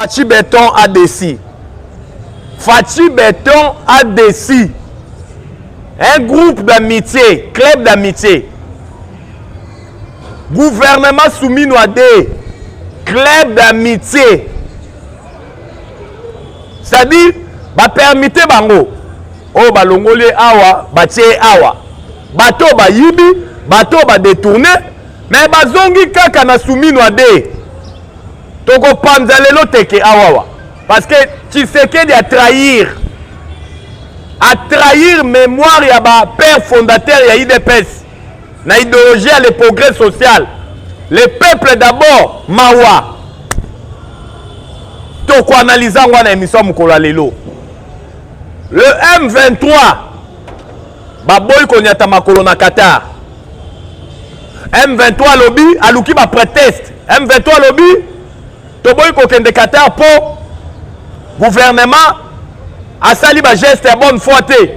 Fatshi Beton a déci. Fatshi Beton a déci. Un groupe d'amitié, club d'amitié. Gouvernement soumis à des club d'amitié. C'est-à-dire, ba permité bango. Oh, ba longoli awa, ba tché awa. Bato ba yibi, bato ba détourné, mais ba zongi kaka na soumis à des tokopanza lelo teke awawa parce que tshisekedi atrahir atrahir mémoire ya ba père fondateur ya idps na idéologie ya le progrès social le peuple d'abord mawa tokoanalyse yango na émission ya mokolo ya lelo le m23 baboyi konyata makolo na qatar m23 alobi aluki bapreteste m23 alobi toboyi kokende qatar mpo gouvernement asali bageste ya bonne foi te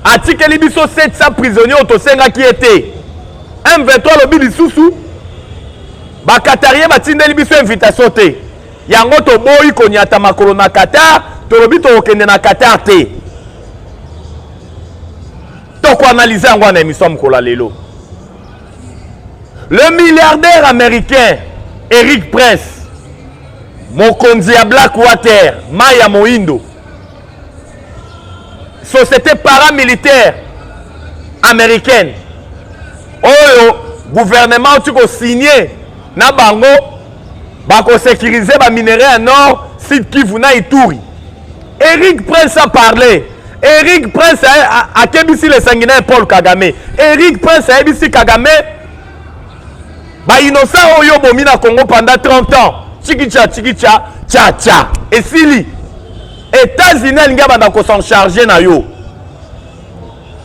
atikeli biso 700 prisonnier oyo tosengaki ye te m23 alobi lisusu bakatarie batindeli biso invitation te yango toboyi konyata makolo na qatar tolobi tokokende na qatar te toko analyse yango na émission mokolo ya lelo le milliardaire américain eric prince mokonzi ya black water mai ya moindo société paramilitaire américaine oyo gouvernement outi kosigne na bango bakosekirize baminerai ya nord sud kivu na ituri Eric Prince a parlé. Eric Prince a kebisi le sanguinaire Paul Kagame. Eric Prince a ebisi Kagame ba innocent oyo bomi na Congo pendant 30 ans. Chikicha chikicha cha cha. Esili. États-Unis alingi abanda ko s'en charger na yo.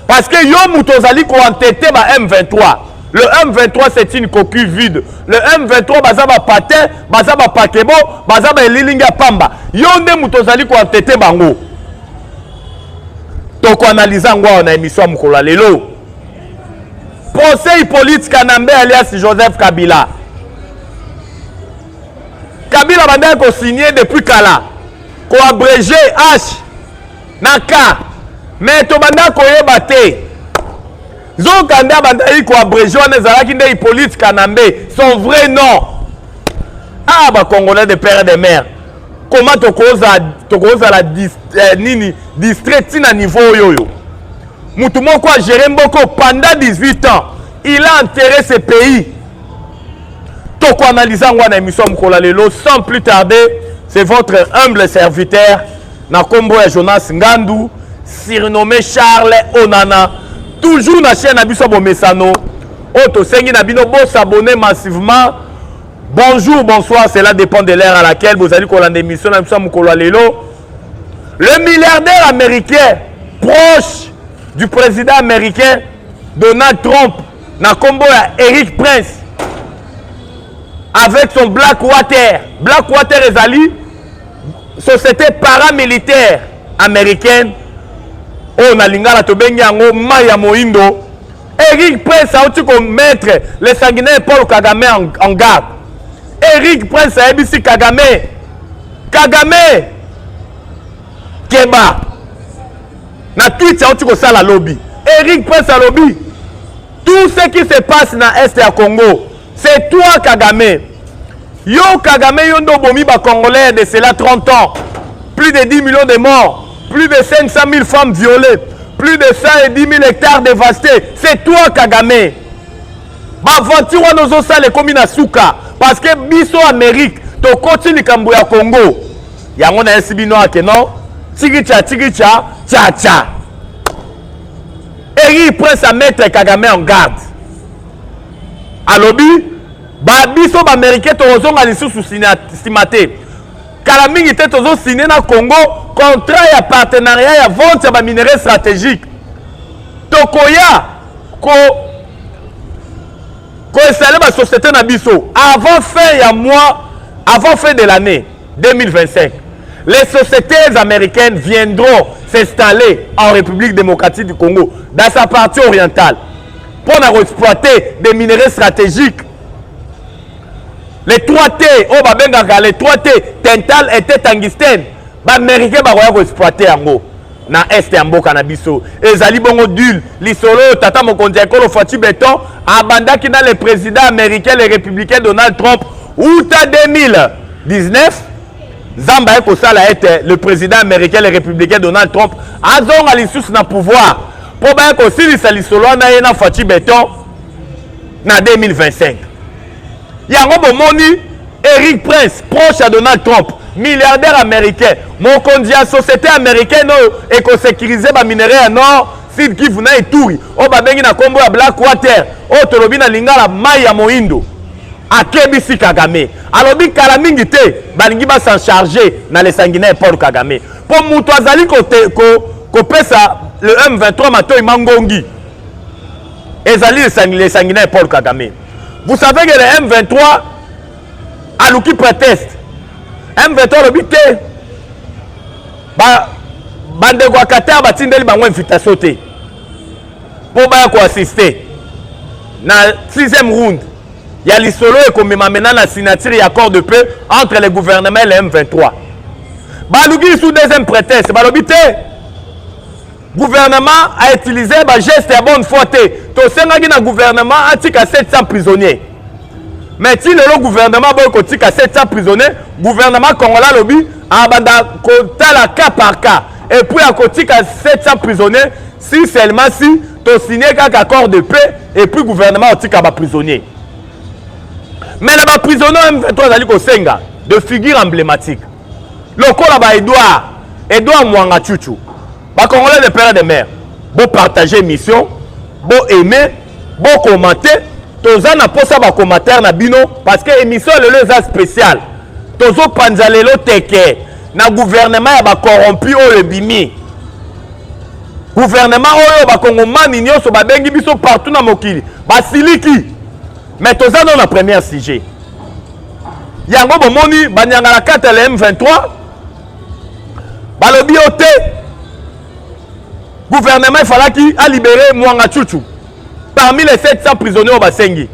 Parce que yo moto ozali ko entêter ba M23. Le M23 c'est une coquille vide. Le M23 baza ba patin, baza ba pakebo, baza ba elilingi ya pamba. Yo nde moto ozali ko entêter bango. Toko analyser yango awa na émission ya mokolo ya lelo. Conseil politique Kanambe alias Joseph Kabila. Kabila bandaki ko signer depuis kala. Ko abréger H na ka me tobanda koyeba te nzoka nde abandaki koabrege wana ezalaki nde hippolyte kanambe son vrai nom ah bacongolais de père de mare koma tokozala eh, nini distrait ntina niveau oyo oyo motu moko agere mboko pendant 18 ans il a enterré ce pays tokoanalyse yango wana émission ya mokolo ya lelo sans plus tarder c'est votre humble serviteur na kombo ya jonas ngandu surnommé charles onana toujours na chaîne na biso ya bomesano oyo tosengi na bino bosabone massivement bonjour bonsoir cela dépend de l'heure à laquelle bozali kolanda émission na biso ya mokolo ya lelo le milliardaire américain proche du président américain donald trump na kombo ya eric prince avec son black water black water ezali société paramilitaire américaine oyo na lingala tobengi yango mai ya moindo eric prince auti komettre le sanguinaire paul kagame en, en garde eric prince ayebisi kagame kagame keba na twit auti kosala lobi eric prince alobi tout ce qui se passe na est ya congo C'est toi Kagame. Yo Kagame yo nde obomi ba Congolais de cela 30 ans. Plus de 10 millions de morts, plus de 500 000 femmes violées, plus de 110 000 hectares dévastés. C'est toi Kagame. Baventure wana ozosala ekomi na suka parce que biso Amérique tokoti likambo ya Congo. Yango na yesi bino ake non? Tikicha tikicha cha cha. Eri prince à mettre Kagame en garde. alobi ba biso baamerikain tokozonga lisusu nsima te kala mingi te tozosine na congo contrat ya partenariat ya vente ya baminerais stratégique tokoya ko koinstalle basociété na biso avant fin ya mois avant fin de l'année 2025 les sociétés américaines viendront s'installer en république démocratique du congo dans sa partie orientale mpo na koexploite des minerais stratégiques le 3t oyo babengaka le 3t tental ete tangistene baaméricain bakoya koexploite yango na este ya mboka na biso ezali bongo dule lisolo oyo tata mokonzi ya ekolo faci beton abandaki na le président américain le républicain donald trump uta 2019 nzambe aye kosala ete le président américain le républicain donald trump azonga lisusu na pouvoir mpo baye kosilisa lisolo wana ye na faci beton na 2025 yango bomoni eric prince proche ya donald trump milliardaire américain mokonzi ya société américaine oyo ekosekirize baminerai ya nord sud kivu na eturi oyo babengi na nkombo ya black water oyo tolobi na lingala mai ya moindo akebisi kagame alobi kala mingi te balingi basan charge na lesanguinaire paul kagame mpo moto azali kopesa ko, ko le m23 matoi mangongi ezali lesanguinaire paul kagame vous savez que le m23 aluki préteste m23 alobi te bandeko ba ya qatar batindeli bango invitation te mpo baya ko assister na sixième round ya lisolo ekomema mena na signature ya accord de paix entre le gouvernement et le M23 baluki lisusu deuxième prétexte balobi te gouvernement a utilisé bageste ya bonne foi te tosengaki na gouvernement atika 700 prisonniers mais ti lelo gouvernement aboyi kotika 700 prisonniers gouvernement congolais alobi abanda kotala cas par cas epuis akotika 700 prisonniers si seulement si to signe kaka accord de paix et puis gouvernement otika ba prisonniers mais na ba prisonniers M23 azali kosenga de figure emblématique lokola ba Edouard Edouard Mwanga Chuchu ba congolais de père et de mère bo partager mission bo aimer bo commenter toza na posa ba commentaire na bino parce que émission lelo eza spéciale tozopanza lelo teke na gouvernement ya bacorrompu oyo ebimi guvernema oyo bakongomani nyonso babengi biso partout na mokili basiliki mais toza no na première sujet yango bomoni banyanga na kati ya le m23 balobi yo te guvernema efalaki alibere mwanga chuchu parmi les 700 prisonniers oyo basengi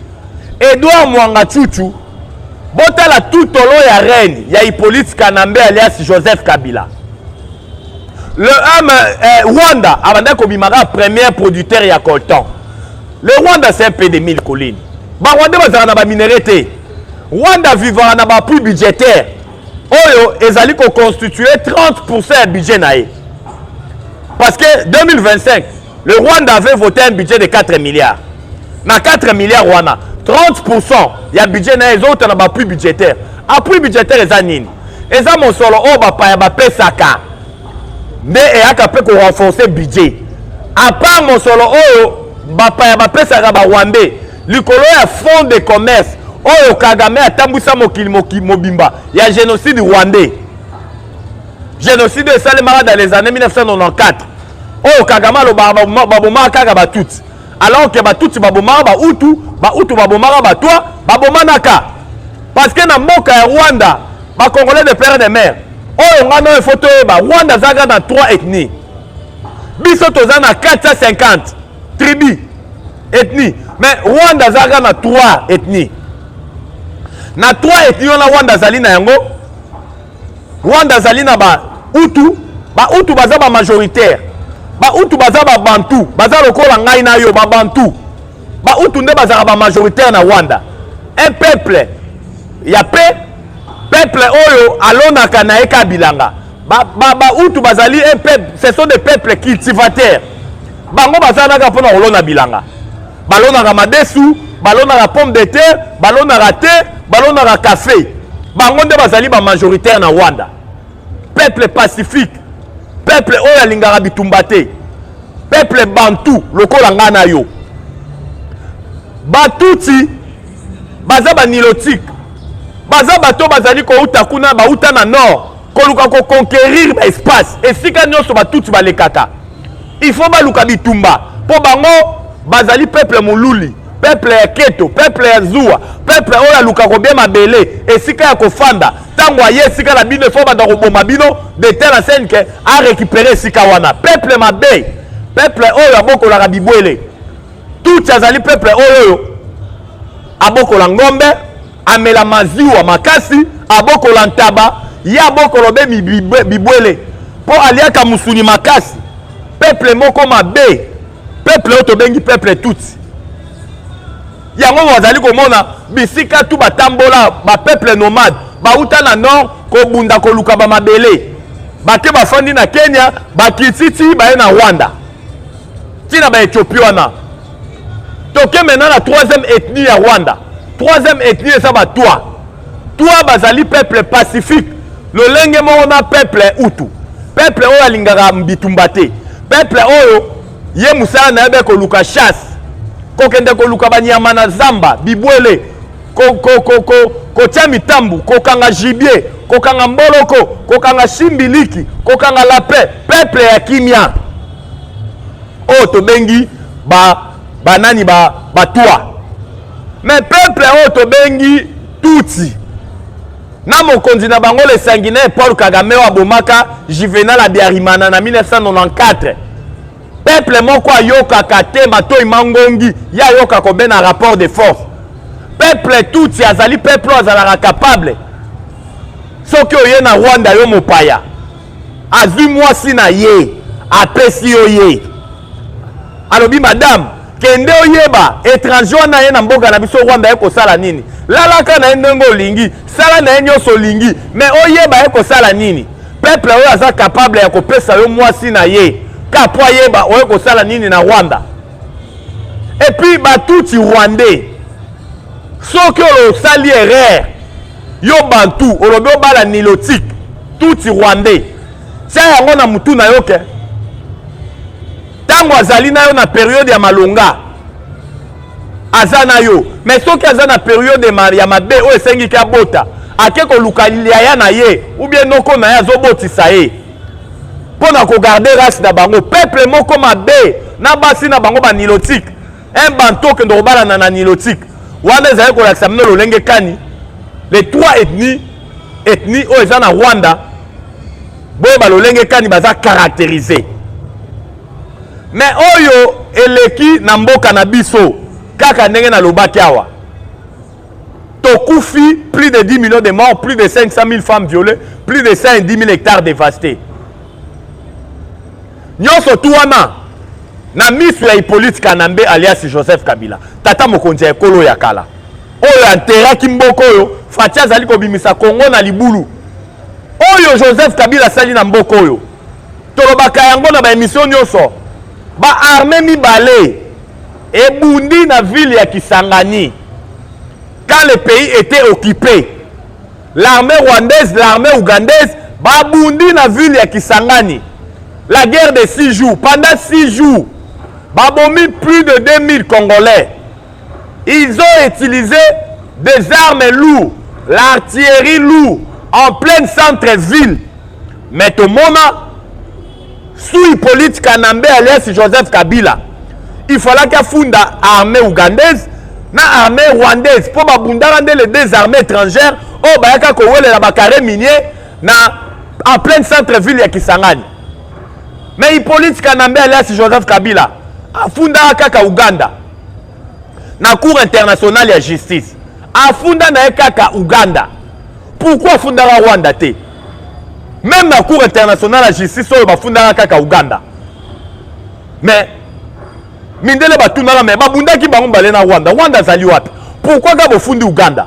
edouard mwanga chuchu botala tutolo ya reine ya hippolyte kanambe alias joseph kabila le homme eh, rwanda abandaki kobimaka premier producteur ya coltan le rwanda c'est un pays de mille collines barwandais bazalaka na baminere te rwanda avivaka na bapuis budgétaire oyo ezali koconstitue 30 pourcent ya budget na ye parce que 2025 Le Rwanda avait voté un budget de 4 milliards. Na 4 milliards wana, 30% ya budget na ezouta na bapui budgétaire. Appui budgétaire eza nini? Eza mosolo oyo bapaya bapesaka nde eyaka mpe korenforce budget. A part mosolo oyo bapaya bapesaka barwandais likolo ya fonds de commerce oyo Kagame atambwisa mokili mobimba ya génocide rwandais. Génocide esalemaka dans les années 1994. oyo kagame alobaka babomaka kaka batuti alors ke batuti babomaka bautu bautu babomaka batwa babomanaka parce que na mboka ya rwanda bacongolais de père de mare oyo ngai nayo efo toyeba rwanda azalaka na 3 ethnie biso toza na 450 tribu ethnie mais rwanda azalaka na 3 ethnie na 3 ethnie wana rwanda azali na yango Rwanda azali na ba Hutu, ba Hutu baza ba majoritaire. Ba Hutu baza ba Bantu, baza lokola ngai na yo ba Bantu. Ba Hutu nde bazalaka ba majoritaire na Rwanda. Un peuple ya paix, peuple oyo alonaka na ye ka bilanga. Ba ba, ba Hutu bazali un peuple, ce sont des peuples cultivateurs. Bango bazalaka mpo na kolona bilanga. balonaka madesu balonaka pomme de terre balonaka te balonaka kafe bango nde bazali bamajoritaire na rwanda peuple pacifique peuple oyo alingaka bitumba te peuple bantu lokola ngai na yo batuti baza banilotike baza bato bazali kouta kuna bauta na nord koluka ko conquerir ba espace esika nyonso batuti balekaka il faut baluka bitumba mpo bango bazali peuple moluli peuple ya keto peuple ya zuwa peuple oyo aluka kobia mabele esika ya kofanda ntango aye esika na bino efo banda koboma bino de tel en scène ke arécupere esika wana peuple mabe peuple oyo abokolaka bibwele tutsi azali peuple oyo oyo abokola ngombe Amela maziwa makasi, abokola ntaba, ye abokolo be bibwele, mpo aliaka musuni makasi. Peple moko mabe, peple oyo tobengi peple tutsi. Yango wazali komona bisika tu batambola bapeple nomade bauta na nord kobunda koluka bamabele bake bafandi na Kenya, bakititi baye na Rwanda. ntina ba ethiopie wana toke maintenant na troisième ethnie ya rwanda troisième ethnie eza batwa twa bazali peuple pacifique lolenge moko na peuple utu peuple oyo alingaka bitumba te peuple oyo ye mosala na ye be koluka chasse kokende koluka banyama na zamba bibwele kotia mitambu kokanga gibier kokanga mboloko kokanga simbiliki kokanga lapin peuple ya kimia oyo oh, tobengi banani ba batwa ba mais peuple oyo oh, tobengi tutsi na mokonzi na bango le sanguinaire paul kagame oyo abomaka juvenal abiarimana na 1994 peuple moko ayokaka te matoi mangongi ye ayoka kobena rapport de force peuple tutsi azali peuple oyo azalaka capable soki oye na rwanda yo mopaya azwi mwasi na ye apesi yo ye alobi madame kende oyeba étranger wana ye na mboka na biso rwanda ye kosala nini lalaka na ye ndenge olingi sala na ye nyonso olingi me oyeba ye kosala nini peuple oyo aza capable ya kopesa yo mwasi na ye ka mpo ayeba oye kosala nini na rwanda epuis batuti rwandais soki osali erreur yo bantu olobi obala nilotique tuti rwandais tia yango na motu na yo ke ntango azali na yo na periode ya malonga aza na yo me soki aza na periode ya mabe oyo esengi ke abota ake koluka yaya na ye ubie noko na ye azobotisa ye mpo na kogarde race na bango peuple moko mabe na basi na bango banilotike un bantu okende kobalana na nilotike wana ezali kolakisa mino lolenge kani les trois ethnies ethnie oyo eza na rwanda boye balolenge kani baza caractérise me oyo eleki na mboka na biso kaka ndenge nalobaki awa tokufi plus de 10 millions de morts plus de 500 000 femmes violées plus de 110 000 hectares dévastés nyonso tu wana na miso ya hippolyte kanambe alias joseph kabila tata mokonzi ya ekolo ya kala oyo anteraki mboka oyo faci azali kobimisa kongo na libulu oyo joseph kabila asali na mboka oyo tolobaka yango na baemisio nyonso baarme mibale ebundi na ville ya kisangani quand le pays était occupé l'armée rwandaise l'armée ougandaise babundi na ville ya kisangani la guerre de six jours pendant six jours babomi plus de 2000 congolais Ils ont utilisé des armes lourdes, l'artillerie lourde en pleine centre-ville. Mais tomona sous Hippolyte Kanambe alias Joseph Kabila, il fallait qu'il funda armée ougandaise na armée rwandaise mpo babundaka nde les deux armées étrangères oyo oh, bayaka kowelela bacarré minier na en pleine centre ville ya Kisangani. Mais Hippolyte Kanambe alias Joseph Kabila afundaka kaka Ouganda. na cour internationale ya justice afunda na ye kaka uganda pourkui afundaka rwanda te meme na cour internationale ya justice oyo bafundaka kaka uganda mais mindele batunaka me babundaki bango mbale na rwanda rwanda azali wapi pourkui kaka bofundi uganda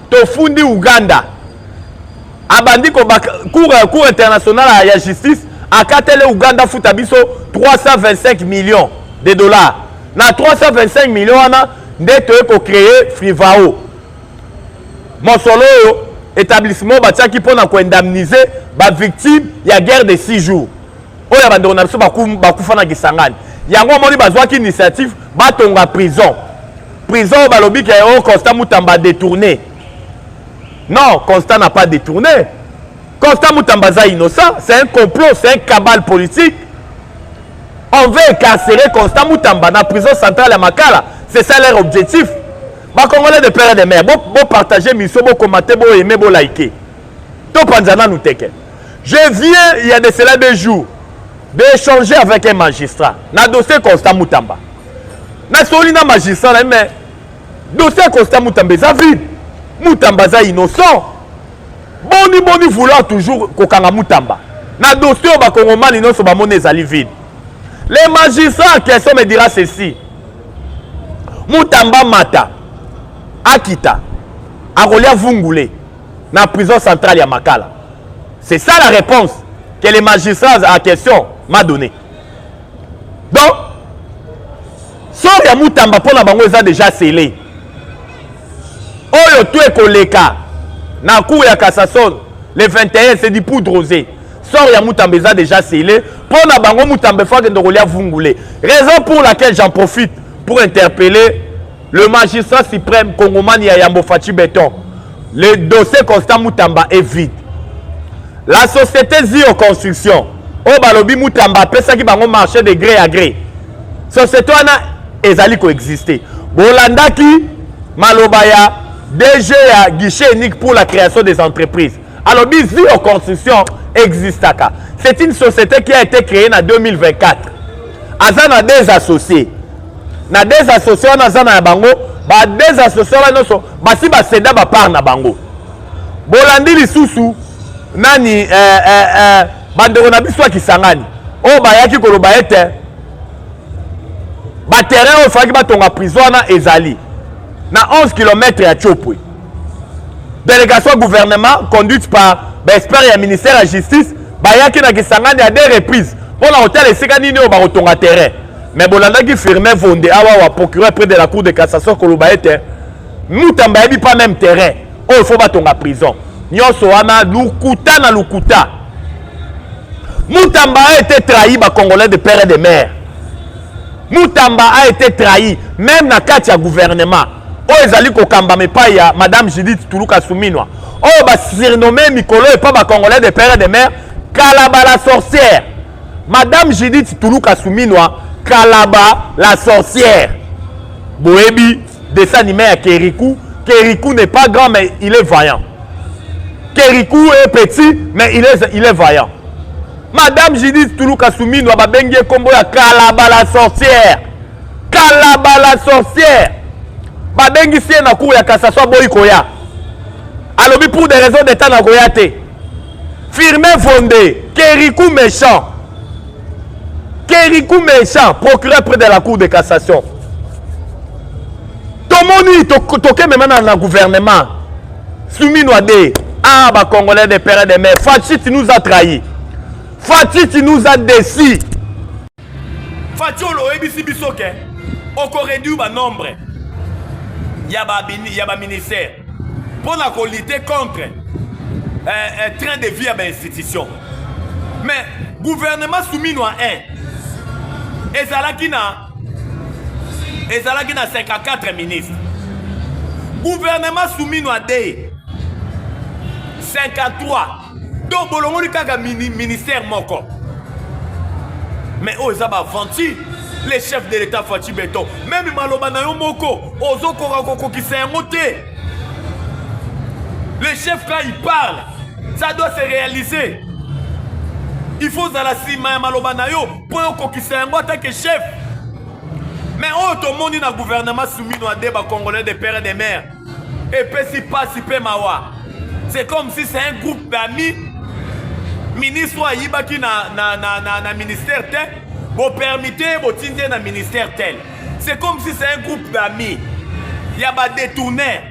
tofundi uganda abandi ko cour cour international ya justice akatele uganda afuta biso 325 millions de dollars na 325 millions wana nde toye kocreye frivao mosolo oyo établissement batiaki mpo na koindemnise bavictime ya guerre de 6 jours oyo ya bandeko na biso bakufa na kisangani yango omoni bazwaki initiative batonga prison prison oyo balobi ke o oh, constat mutamba détourné non constat na pas détourné constat mutamba aza innocent c'est un complot c'est un cabale politique on veut incarcérer constat mutamba na prison centrale ya makala c'est ça leur objectif bakongolais de père et de mère bopartage bo miso bokomate boyeme bolike bo topanza nanu teke je viens il y a de cela deux jours d'échanger avec un magistrat na dossier constant mutamba nasoli na magistrat na ye mais dossier ya constant mutamba eza vide mutamba aza innocent boni boni vouloir toujours kokanga mutamba na dossier oyo bakongomani nyonso bamoni ezali vide le magistrat question me dira ceci mutamba mata akita akolia vungule na prison centrale ya makala c'est ça la réponse que les magistrats à question m'a donné donc sort ya mutamba mpo na bango eza déjà scellé oyo to ekoleka na cour ya cassation le 21 c'est du poudre rosé sort ya mutamba eza déjà scellé mpo na bango mutamba efo akende kolia vungule raison pour laquelle j'en profite pour interpeller Le magistrat suprême congomani ya yambo Fatshi Beton. Le dossier Constant Mutamba est vide. La société Zio Construction oyo balobi Mutamba apesaki bango marché de gré à gré. Société wana ezali koexiste. Bolandaki maloba ya DG ya guichet unique pour la création des entreprises. alobi zio construction existaka c'est une société qui a été créée na 2024 aza na des associés na des associés wana aza na ya bango ba des associés wana nyonso basi baseda bapart na bango bolandi lisusu nani eh, eh, eh, bandeko na biso ya kisangani oyo oh, bayaki koloba ete baterrain oyo efalaki batonga prison wana ezali na 11 km ya chopwe délégation ya gouvernement conduite par baexpert ya ministère ya justice bayaki na kisangani ya deux reprise mpo na kotala esika nini oyo bakotonga terrain mais bolandaki firme vonde awa wa procureur près de la cour de cassation koloba ete mutamba ayebi pas même terrain oyo oh, fo batonga prison nyonso wana lukuta na lukuta mutamba a été trahi bacongolais de père et de mère Mutamba a été trahi même na kati ya gouvernement oyo ezali kokambama epai ya madame Judith Tuluka Suminwa oyo ba surnomme mikolo epa ba congolais de père et de mère Kalaba la sorcière madame Judith Tuluka Suminwa Kalaba la sorcière boyebi dessin animé ya Kerikou Kerikou n'est pas grand mais il est vaillant Kerikou est petit mais il est, il est vaillant Madame Judith Tuluka Suminwa babengi kombo ya Kalaba la sorcière. Kalaba la sorcière. Babengi sie na cour ya cassation boyi koya. Alobi pour des raisons d'état na koya te. Firmin Fondé, Kerikou méchant. Kerikou méchant, procureur près de la cour de cassation. Tomoni tokemema na gouvernement. Sumino Ade, ah ba Congolais de père et de mère, Fatshi tu nous as trahi. Fatshi tu nous as déçu. Fatshi oyebisi biso ke oko réduire ba nombre ya ba ya ba ministère mpo na ko lutter contre euh, euh, train de vie ya ba institution. Mais gouvernement Sumino a un ezalaki na ezalaki na 54 ministre gouvernement sumino adei 53 donc bolongoli kaka mini, ministère moko mais oyo oh, eza baaventure le chef de l'état faci beton meme maloba na yo moko ozokoka kokokisa yango te le chef quand il parle ça doit se réaliser il faut ozala nsima ya maloba na yo mpo yo kokisa yango atake chef me oyo tomoni na gouvernement sumino ade bacongolais de père et de mère epesi mpasi mpe mawa c'est comme si c'est un groupe d'amis ministre oyo ayibaki na, na, na, na, na ministère te bopermite ye botindi ye na ministère tel c'est comme si c'est un groupe d'amis ya badetourner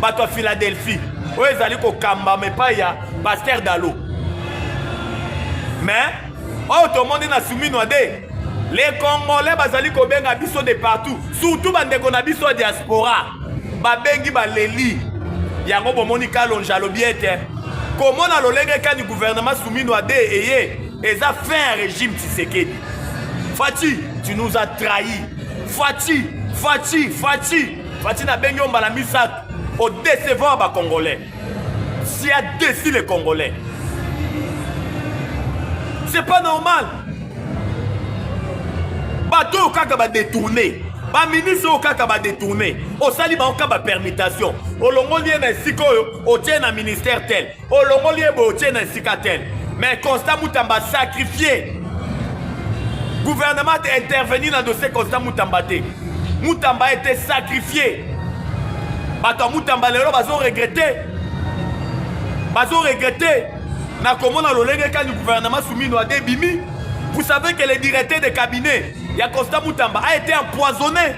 bato ya philadelphie oyo ezali kokambama epai ya paster dalo mais oyo tomoni na suminwa de les congolais bazali kobenga biso de partout surtout bandeko na biso ya diaspora babengi baleli yango bomoni kalonja alobi ete komona lolenge kani gouvernement suminwa de eye eza fin régime tisekedi faci tu nous as trahi faci faci faci Fatshi nabengi yo mbala misato o décevant ba congolais si a défi les congolais c'est pas normal bato oyo kaka badetourne baministre oyo kaka badetourne osali bango kaka bapermutation olongoli ye na esika oyo otie na ministère tel olongoli ye boye otie na esika tel mais constant mutamba sacrifie gouvernement te intervenir na dossier constant mutamba te mutamba ete sacrifie bato ya mutamba lelo bazoregrete bazoregrete na komona lolenge kani gouvernement sumino ade ebimi vous savez que le directeur de cabinet ya constant mutamba a été empoisonné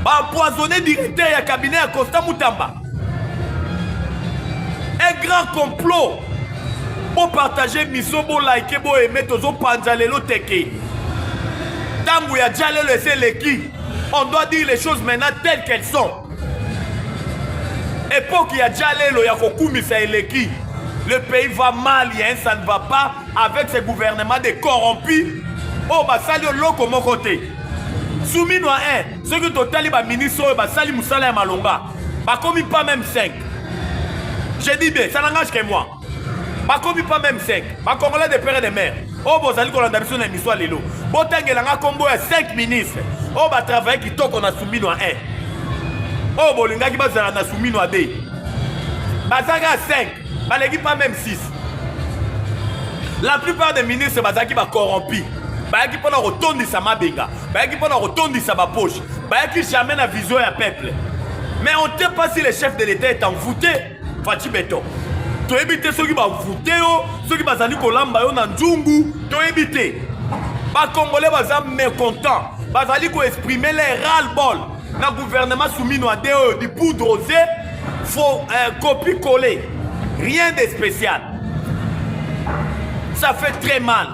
baempoisonne directeur ya cabinet ya constant mutamba un grand complot bopartage miso bolike boyeme tozopanza lelo teke ntango ya ja lelo esi eleki on doit dire les choses maintenant telles qu'elles sont epoki ya ja lelo ya kokumisa eleki le pays va mal ya un ça ne va pas avec ce gouvernement de corrompu oyo basali oloko moko te sumino a 1 soki totali baministre oyo basali mosala ya malonga Bakomi pas même 5. J'ai dit bien, ça n'engage que moi. Bakomi pas même 5. Ba Congolais de père et de mère. Oh, vous allez qu'on a d'habitude dans l'histoire lelo. Botenge langa combo ya 5 ministres. Oh, ba travailler qui toque on a soumis noir 1. Oh, bolingaki bazala na soumis noir 2. Bazaga 5. baleki pas même 6 la plupart des ministres bazalaki bacorrompi bayaki mpo na kotondisa mabenga bayaki mpo na kotondisa bapoche bayaki jamais na vision ya peuple mais on te pas si le chef de l'état est envoûté faci beton toyebi te soki bavoute yo soki bazali kolamba yo na nzungu toyebi te bakongole baza mécontent bazali koexprime le ral bol na gouvernement sumino ade oyo di poudre aux yeux faut euh, copie coller rien de spécial ça fait très mal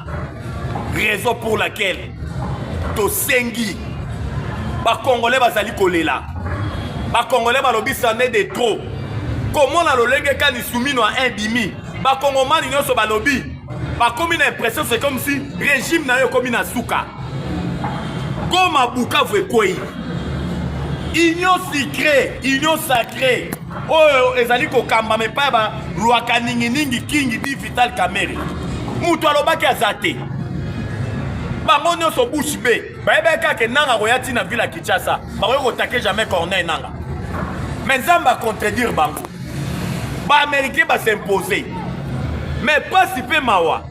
raison pour laquelle tosengi bakongole bazali kolela bakongole balobi sane de trop komona lolenge kani sumino a indimi bakongomani nyonso balobi bakomi na impression c'est comme si régime na yo ekomi na suka goma bukavu ekwei union sicré union sacré oyo ezali kokambama epai ya balwaka ninginingi kingi di vital kamere moto alobaki aza te bango nyonso bush be bayebaki kaka ke nanga akoya ti na ville ya kinshasa bakoki kotake jamais corneille nanga mais nzambe acontredire bango baaméricain basimpose mais mpasi mpe mawa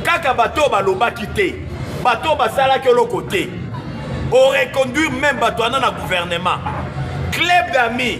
kaka bato oyo balobaki te bato oyo basalaki oloko te oreconduire meme bato wana na gouvernement club d'amis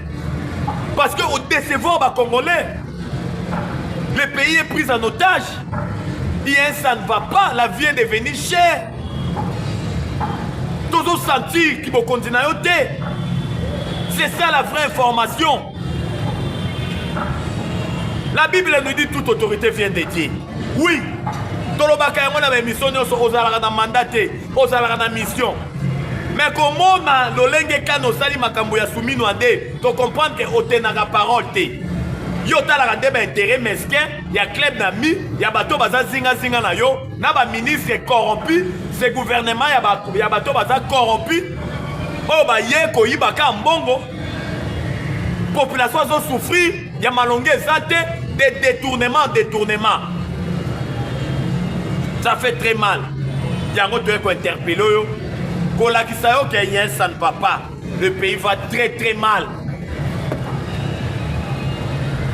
Parce que au décevoir ba Congolais, le pays est pris en otage. Bien, ça ne va pas, la vie est devenue chère. Tozo sentir qui bokonzi na yo te. C'est ça la vraie information. La Bible nous dit toute autorité vient de Dieu. Oui, tolobaka yango na baemission nyonso ozalaka na manda te ozalaka na mission me komona lolenge kani osali makambo ya sumino ade tocomprendre ke otenaka parole te yo otalaka nde baintere mesquin ya club na mi ya bato baza zingazinga na yo na baministre corrompu se gouvernement ya bato baza corrompu oyo baye koyibaka mbongo population azo souffrir ya malonga eza te de détournement détournement ça fait très mal yango toye kointerpele oyo kolakisa yo ke yen ça ne va pas le pays va très très mal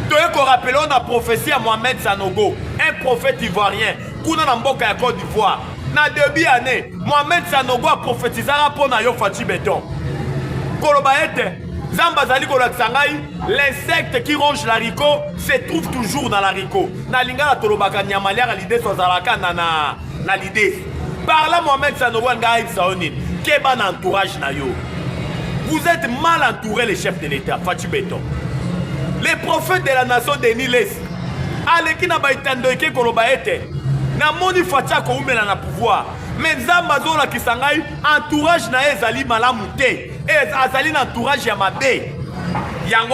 toye korapele oyo na prophétie ya mohamed sanogo un prophète ivoirien kuna na mboka ya Cote d'Ivoire na debut année Mohamed Sanogo aprofetizaka mpo na yo Fatshi Beton koloba ete Nzambe azali kolakisa ngai l'insecte qui ronge la rico se trouve toujours dans la rico na lingala tolobaka nyama liaka lideso azalaka na na na lideso par là Mohamed Sanogo alinga ayebisa yo nini keba na entourage na yo vous êtes mal entouré les chefs de l'État Fatshi Beton les prophètes de la nation Denis Lessi aleki na baitando eke koloba ete namoni faci akoumela na pouvoir me nzambe azolakisa ngai entourage na ye ezali malamu te e, azali na entourage ya mabe yango